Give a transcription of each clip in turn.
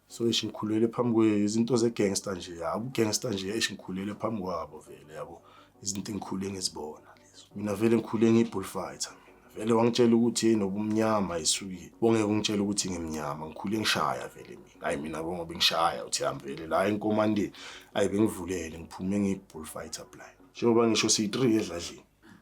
so eish ngikhulele phambi kwe izinto ze gangster nje yaku gangster nje eish ngikhulele phambi kwabo vele yabo izinto engikhule ngizibona lezo mina vele ngikhule ngibullfighter mina vele wangitshela ukuthi yini obumnyama isuki bongeke ungitshela ukuthi ngimnyama ngikhule ngishaya vele mina hayi mina bongo bengishaya uthi hamba vele la enkomandeni ayi bengivulele ngiphume ngibullfighter blind njengoba ngisho siyi 3 edladlini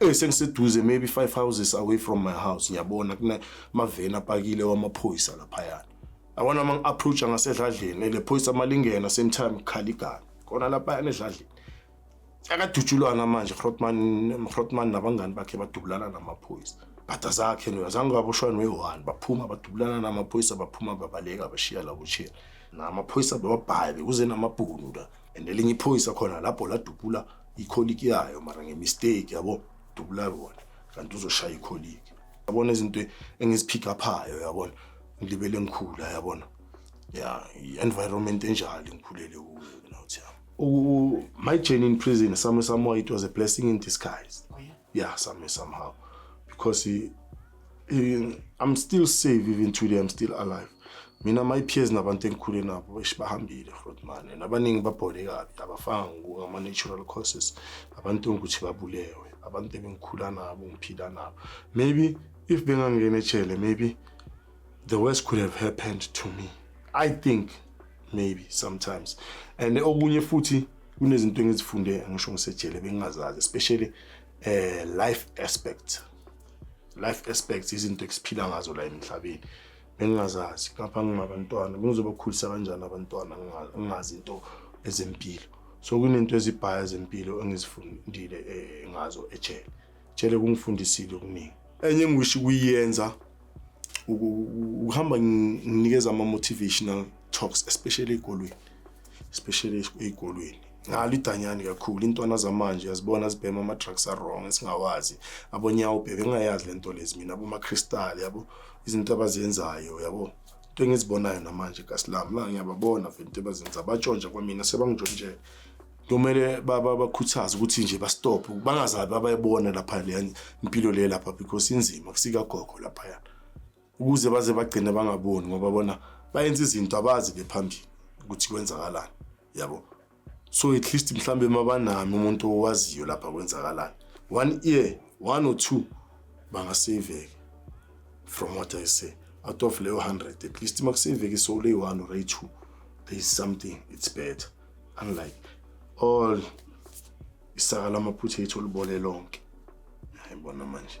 Eh sengiseduze maybe five houses away from my house ngiyabona kuna mavena apakile wamaphoyisa laphayana. Awona uma ngi-approach ngasedladleni ele phoyisa malingena same time khala igana. Kona laphayana edladleni. Akadutshulwana manje Grotman Grotman nabangani bakhe badubulana namaphoyisa. Bhada zakhe no azange baboshwa noyi-one baphuma badubulana namaphoyisa baphuma babaleka bashiya labo chiya. Namaphoyisa bebabhayi bekuze namabhunu la. and elinye iphoyisa khona lapho ladubula ikholiki yayo mara ngemistake yabo dubula yona kanti uzoshaya ikholiki yabona izinto engiziphika phayo yabona ngilibele ngikhula yabona ya i-environment enjalo ngikhulele kuyo nothi yabo my journey in prison some somehow it was a blessing in disguise oh, yeah. yeah some somehow because Eh, I'm still safe even today I'm still alive. Mina my peers nabantu engikhule nabo esibahambile Rodman and abaningi babhole kabi abafanga ngama natural causes abantu ukuthi babulewe abantu ebengikhula nabo ngiphila nabo maybe if bengangena ejele maybe the worst could have happened to me I think maybe sometimes and okunye futhi kunezinto engizifunde ngisho ngisejele bengingazazi especially eh life aspect life aspects izinto esiphila ngazo la emhlabeni bengingazazi ngapha ngingabantwana bengizobakhulisa kanjani abantwana ngingazi into ezempilo so kunento ezibhaya zempilo engizifundile eh, ngazo ejele jele kungifundisile okuningi enye engiwishi kuyiyenza ukuhamba nginikeza ama-motivational talks especially ey'kolweni especially ey'kolweni ngalo idanyani kakhulu intwana zamanje yazibona zibhema ama-drugs a-wrong esingawazi abonyawo bhebe engayazi le nto lezi mina abomakristali yabo izinto abazenzayo yabo into engizibonayo namanje kasilami la ngiyababona vele into ebazenza batshontsha kwamina sebangijontshela kumele bakhuthaze ukuthi nje bastophe bangazabi abayibona lapha leya impilo le lapha because inzima kusikagogo laphayana ukuze baze bagcine bangaboni ngoba bona bayenza izinto abazi bephambili ukuthi kwenzakalani yabo so at least mhlawumbe uma banami umuntu owaziyo lapha kwenzakalani one ear one or two bangaseyiveke from what i say out of leyo 100 at least uma kuseyiveke so lay one or two there is something it's better unlike all isaka lamaphutha ethu olubole lonke yayibona manje